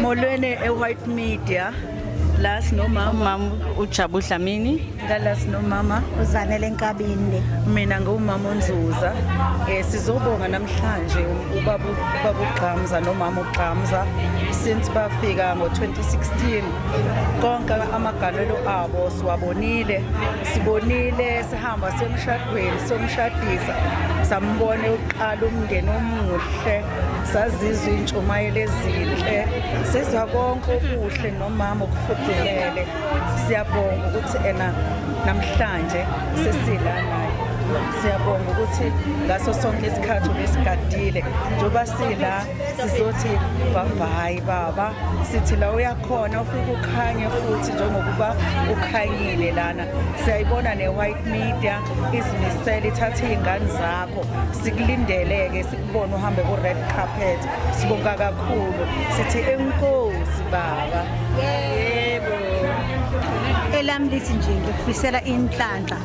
Molweni e-White Media la sinomama umama uJabu Dlamini ngala sinomama uZanele Nkabinde mina ngumama uNzuza eh sizobonga namhlanje ubaba ubaba uGqamza nomama uGqamza since bafika ngo2016 konke amagalelo abo siwabonile sibonile sihamba semshadweni somshadisa sambone uqala umndeni omuhle sazizwa iy'ntshumayelo ezinhle sizwa konke okuhle nomama okufudumele siyabonga ukuthi ena namhlanje sesila naye siyabonga ukuthi ngaso sonke isikhathi ubesigadile njengoba sila sizothi babhayi baba sithi la uyakhona ufike ukhanye futhi njengokuba ukhanyile lana siyayibona ne-white media izimisele ithathe iy'ngane zakho sikulindele-ke Ubona uhambe ku red carpet. Sibonga kakhulu. Sithi enkosi baba. Yebo. Elami lithi nje ngikufisela inhlanhla.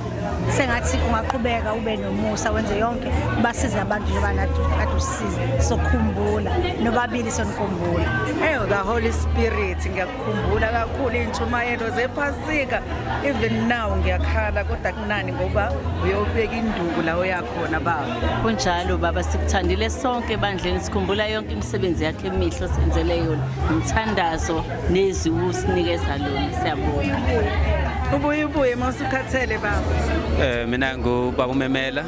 Sengathi ungaqhubeka ube nomusa wenze yonke basize abantu njengoba nathi kade usiza. Sokhumbula nobabili sonikhumbula. Hey, the Holy Spirit ngiya Khumbula kakhulu iy'ntshumayelo zephasika even now ngiyakhala kodwa kunani ngoba uyobeka induku la oyakhona baba kunjalo baba sikuthandile sonke ebandleni sikhumbula yonke imisebenzi yakhe emihle osenzele yona umthandazo nezwi usinikeza lona siyabonga ubuye ubuye uma usukhathele baba um mina ngubaba umemela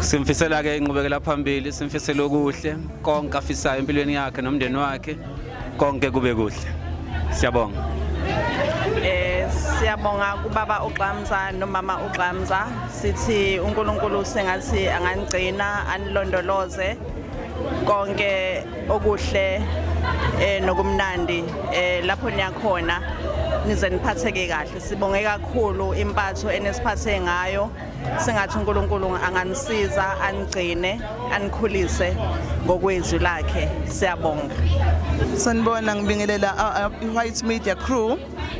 simfisela ke inqubekela phambili simfisela okuhle konke afisayo empilweni yakhe nomndeni wakhe konke kube kuhle siyabonga eh siyabonga kubaba uGxamza nomama uGxamza sithi uNkulunkulu sengathi angangcina anilondoloze konke okuhle eh nokumnandi eh lapho niyakhona nize niphatheke kahle sibonge kakhulu impatho enesiphathe ngayo singathi uNkulunkulu anganisiza anigcine anikhulise ngokwezwi lakhe siyabonga sanibona ngibingelela i-white media crew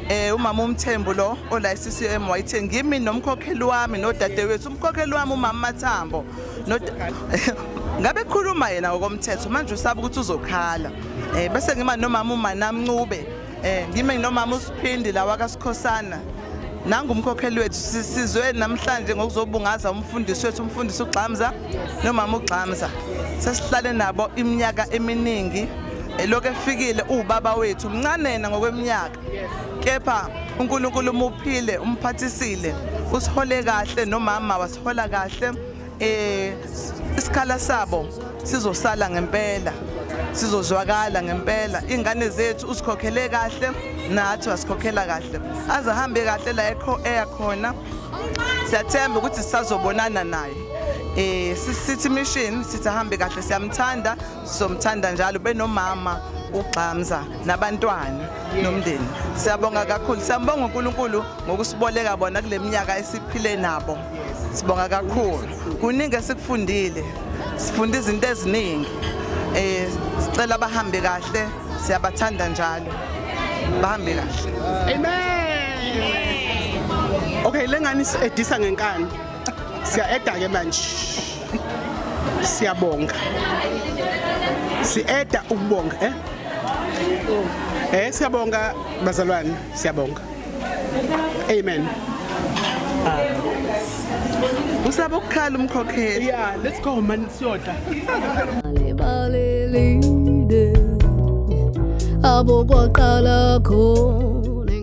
eh umama umthembu lo ola CCM wayithe ngimi nomkhokheli wami nodadewethu umkhokheli wami umama Mathambo ngabe khuluma yena ngokomthetho manje usaba ukuthi uzokhala eh bese ngima nomama uManamncube Eh ngime nginomama uSiphindi lawa kaSikhosana. Nangu umkhokheli wethu sizwe namhlanje ngokuzobungaza umfundisi wethu umfundisi uGxamza nomama uGxamza. Sesihlale nabo iminyaka eminingi elokhu efikile uwubaba wethu mncanena ngokweminyaka kepha uNkulunkulu umuphile umphathisile usihole kahle nomama wasihola kahle eh isikhala sabo sizosala ngempela sizozwakala ngempela ingane zethu usikhokhele kahle nathi wasikhokhela kahle azahambe kahle la ekho eyakhona siyathemba ukuthi sisazobonana naye eh sithi mission sithi ahambe kahle siyamthanda sizomthanda njalo benomama ugxamza nabantwana nomndeni siyabonga kakhulu siyambonga uNkulunkulu ngokusiboleka bona kuleminyaka esiphile nabo Sibonga kakhulu. Kuningi esikufundile. Sifunde izinto eziningi. Eh sicela bahambe kahle. Siyabathanda njalo. Bahambe kahle. Amen. Okay, lengani edisa ngenkani. Siya eda ke manje. Siyabonga. Si eda ukubonga, eh? Eh, siyabonga bazalwane, siyabonga. Amen. Usaba ukukhala umkhokheli. Yeah, let's go man siyodla. Balelide. Abo kwaqala khona.